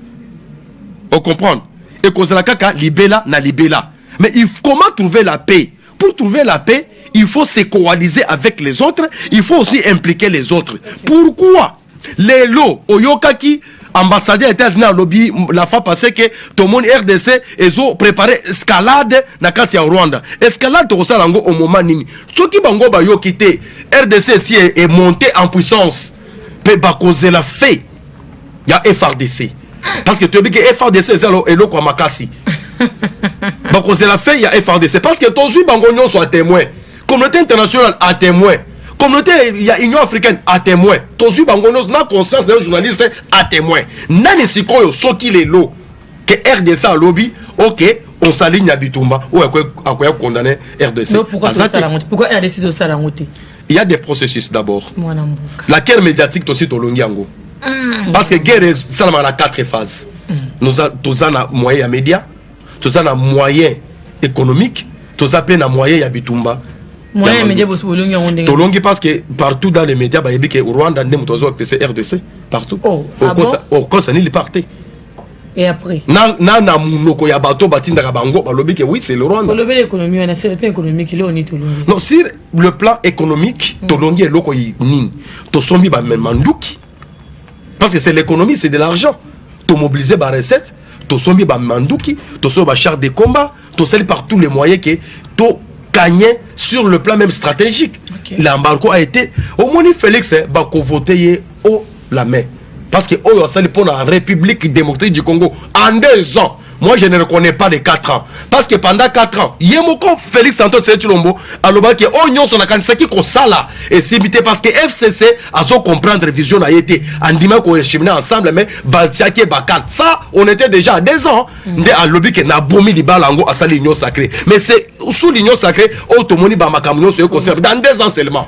ocomprendre ekozala kaka libela na libela mais il comment trouver la paix pour trouver la paix il faut se coaliser avec les autres il faut aussi impliquer les autres pourquoi lelo oyokaki ambassadeur ya etats-unis alobi la fois passé ke tomoni rdc ezo prépare escalade na kati ya rwanda escalade tokosala yango omoma nini soki bango bayoki te rdc esi emonte en puissance mpe bakozela fait ya frdc parce que toyebi ke frdc eza eloko ya makasi bakozela fait ya frdc parce que tozwi bango nyonso ya témoin communauté internationale à témoin communauté ya union africaine à témoin tozwi bango nyonso na conscience na yo journaliste à témoin nani sikoyo soki lelo ke rdc alobi ok osali nyabitumba oyo akoya condamne rdc il y a des processus d'abord la guerre médiatique tosi tolongi yango mm. parce que guerre esalamaka na quatre phases mm. toza na moyen ya média toza na moyen économique toza mpe na moyen ya bitumba tolongi parce que partout dans les médias bayebi ke rwanda nde moto azwa pc rdc partout oh, ah okosa nini lipar te Et après na, na, na munoko ya bato batindaka bango balobi ke oui c'est le rwanda olobeli économie wana c'est le plan économique leo ni tolongi non sur le plan économique mm. tolongi eloko nini tosombi bamanduki parce que c'est l'économie c'est de l'argent tomobilize barecette tosombi bamanduki tosombi bachar de combat tosali par tous les moyens ke to gagne sur le plan même stratégique okay. l'embargo a été omoni félix eh, bakovote ye o la main parce que oyo asali mpo na république démocratique du congo en deux ans moi je ne reconnais pas les 4 ans parce que pendant 4 ans ye moko félix santos etilombo alobaki oyo oh, nyonso nakanisaki kosala esimbi te parce que fcc azo comprendre vision na ye te andimaki koechemine ensemble mais batiaki ye bakate ça on était déjà à deux ans mm. nde alobi ke nabomi libala yango asali union sacré mais c'est sous l'union sacré oyo oh, tomoni bamakambo nyonso ye kosala dans deux ans seulement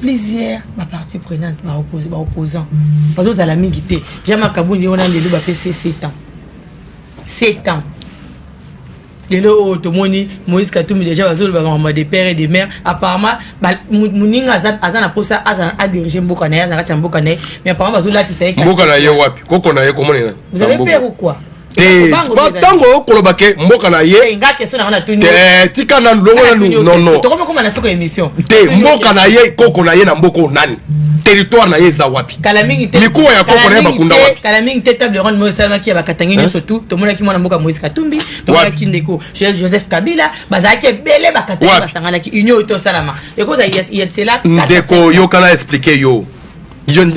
plusieurs baparti prenante baopposant bazozala mingi te ja makabuni wana lelo bapesi 7 ans 7 ans lelo oyo oh, tomoni moïse katumbi déjà bazoloba makambo de père et de mère apparemment moninga aza na mposa azala adirige mboka na ye aza na kati ya mboka na ye mais apparemment bazolatisa ye mboka na ye wapi koko na ye komona vous avez peur ou quoi Eh, ntango okoloba ke mboka na ye eh, eh, tika nanu longo nanu nono te mboka na ye koko na ye na mboka oyo nani territoire na ye eza wapi mikuwa ya koko na ye bakunda wapi kala mingi te table ronde moyo esalamaki ya bakatange nyonso tu tomonaki mwana mboka moïse katumbi tomonaki ndeko joseph kabila bazalaki ebele bakatange basanganaki union oyo tosalama ekozala yesela ndeko yokana explike yo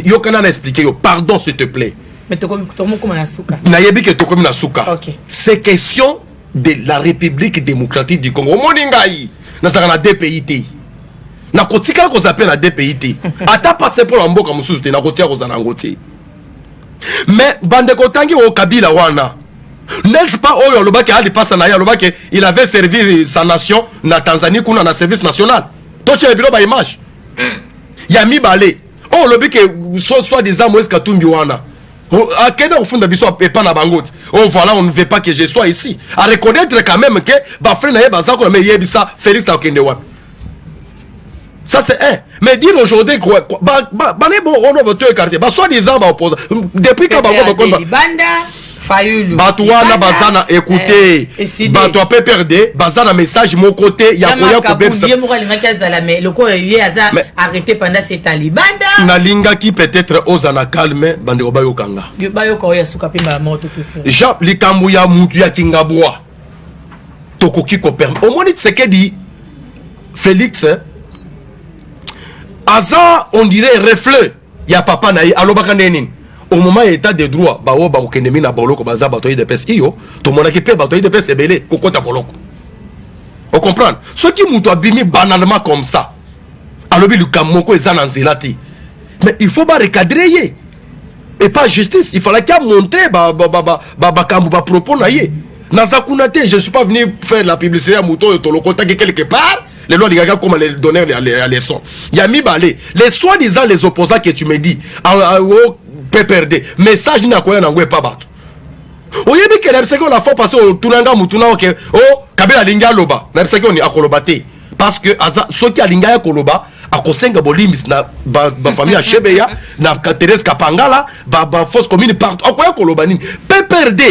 yokana na explike yo pardon s'il te plaît Mais tokomi tokomi koma na suka. Na yebi ke tokomi na suka. Okay. C'est question de la République démocratique du Congo. Omoni ngai nazaka na deux pays te. Na kotikala kozala pe na deux pays te. Ata passe pour mboka mosusu te na kotia kozala yango te. Mais bande kotangi o Kabila wana. N'est-ce pas oyo alobaki ali pasa na ye alobaki il avait servi sa nation na Tanzanie kuna na service national. Totia bilo ba image. Hmm. Ya mibale oyo oh, olobi ke soit disant moise katumbi wana oh, akenda kofunda biso epa na bango ti o oh, voilà on ne veut pas que je sois ici a reconnaître quand même ke bafrai na ye baza kuna me eyebisa félix akokende wapi ça c'est un mais dire aujourd'hui quoi bane bo ono boto ekarte ba soit disant ba opposant depuis ka bango bakomba fayulu bato wana baza na ekute eh, bato ya pprd baza na message moko te ya koya kobebsaye moko alingaki azala me lokola ye aza arrete panda se talibanda nalingaki peut-être oza na calme bandeko bayoka nga bayoka oyo ya suka mpe mbala moko tokuti jean likambo ya mutu ya kingabwa tokoki koperme omoni tsekedi félix aza on dirait reflet ya papa na ye alobaka ndenge nini au moment ya état de droit baoyo bakokende mingi na boloko baza bato ya idps iyo tomonaki mpe bato ya idps ebele kokɔta boloko ocomprendre soki moto abimi banalement comme ça alobi likambo moko eza na nzela te mais il faut barecadre ye epa justice il falaki amontre bakambo bapropos na ye naza kuna te je suis pas venu faire la publicité ya moto oyo tolokotaki quelque part lelo alingaki akoma le donneur ya leçon ya mibale les soi disant les opposants que tu me dis ah, ah, o oh, pprd message nini akoya na yango epa bato oyebi ke nayebisaki yo la fois passé otuna nga motuna oke o oh, kabila alingi aloba nayebisaki oni akoloba te parce que aza soki alingi aya koloba akosenga bolimbisi na bafamille ya shebeya na therese kapangala bafausse commune partout akoya koloba nini pprd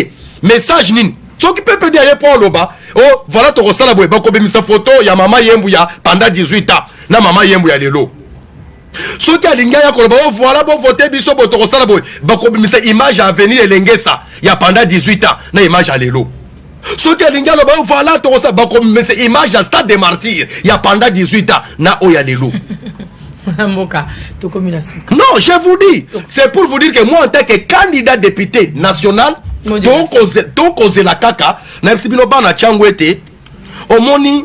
message nini soki pepedi aye mpo aloba o oh, vala tokosala boye bakobimisa foto ya mama yembu ya panda 18 ans na mama yembu ya lelo soki alingi aya koloba o oh, voila bovote biso bo tokosala boye bakobimisa image ya avenir elengesa ya panda 18 ans na image ya lelo soki alingi aloba o oh, voila tokosala bakobimisa image ya stade de martyr ya panda 18 ans na oyo ya lelo mboka tokomi na suka non je vous dis c'est pour vous dire que moi en tant que candidat député national tokozela kaka nayebisi bino bana ntango ete omoni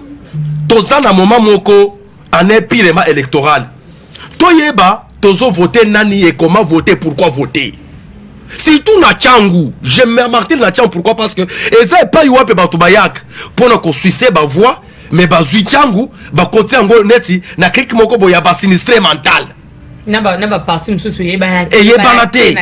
toza na moma moko en empirema électoral toyeba tozo vote nani et comment voter pourquoi voter surtout na changu je me martire na changu pourquoi parce que eza epai wapi bato bayaka mpo na kosuise bavoix mais bazwi ntango bakoti yango neti na clike moko boye ya basinistre mental eyebana te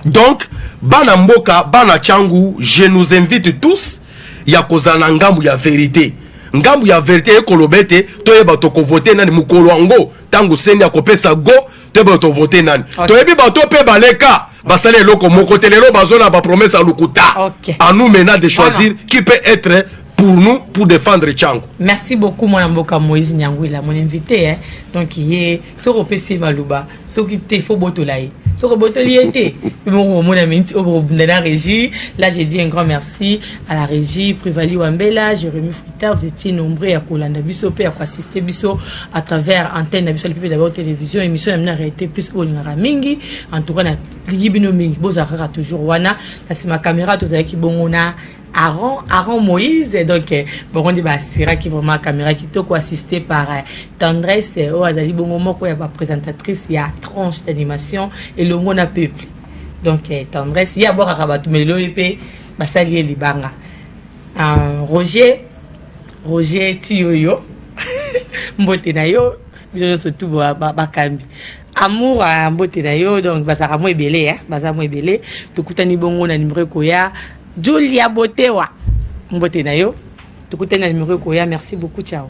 donc bana mboka bana ntango je nous invite tous ya kozala na ngambo ya verite ngambo ya verite ekoloba ete toyeba tokovote nani mokolo yango ntango seni akopesa go te boye tovote nani okay. toyebi bato mpe baleka basala eloko moko te lelo bazo na bapromese ya lokuta okay. a nous maintenant de choisir voilà. qui peut être pour nous pour défendre Tchango. Merci beaucoup mon amboka Moïse Nyangwila mon invité hein. Donc il est soko pesi maluba, soko te faut botolaye. Soko botoli été. Bon mon ami au bobunda la régie. Là j'ai dit un grand merci à la régie Privali Wambela, Jérémy Père, vous étiez nombreux ya kolanda biso pe ya ko assister biso à travers antenne na biso lipipe d'abord télévision émission ya mina réalité plus ko lingaka mingi en tout cas na ligi bino mingi boza kaka toujours wana na sima caméra to zaki bongo na Aaron, Aaron Moïse, donc euh, bon on dit bah Sira qui vraiment caméra qui toko assisté par euh, Tendresse, euh, oh azali bongo moko ya ba présentatrice ya tranche d'animation et le monde a peuple. Donc euh, Tendresse, il y a bora kabatu mais le EP basali ye libanga. Ah, Roger, Roger Tiyoyo, mbote na yo, biso nyonso tu bakambi. Amour à ah, mbote na yo, donc bazaka mo ebele, hein, baza mo ebele. Tokutani bongo na numéro koya Julia Botewa. Mbote na yo, tokutani na numéro koya. Merci beaucoup, ciao.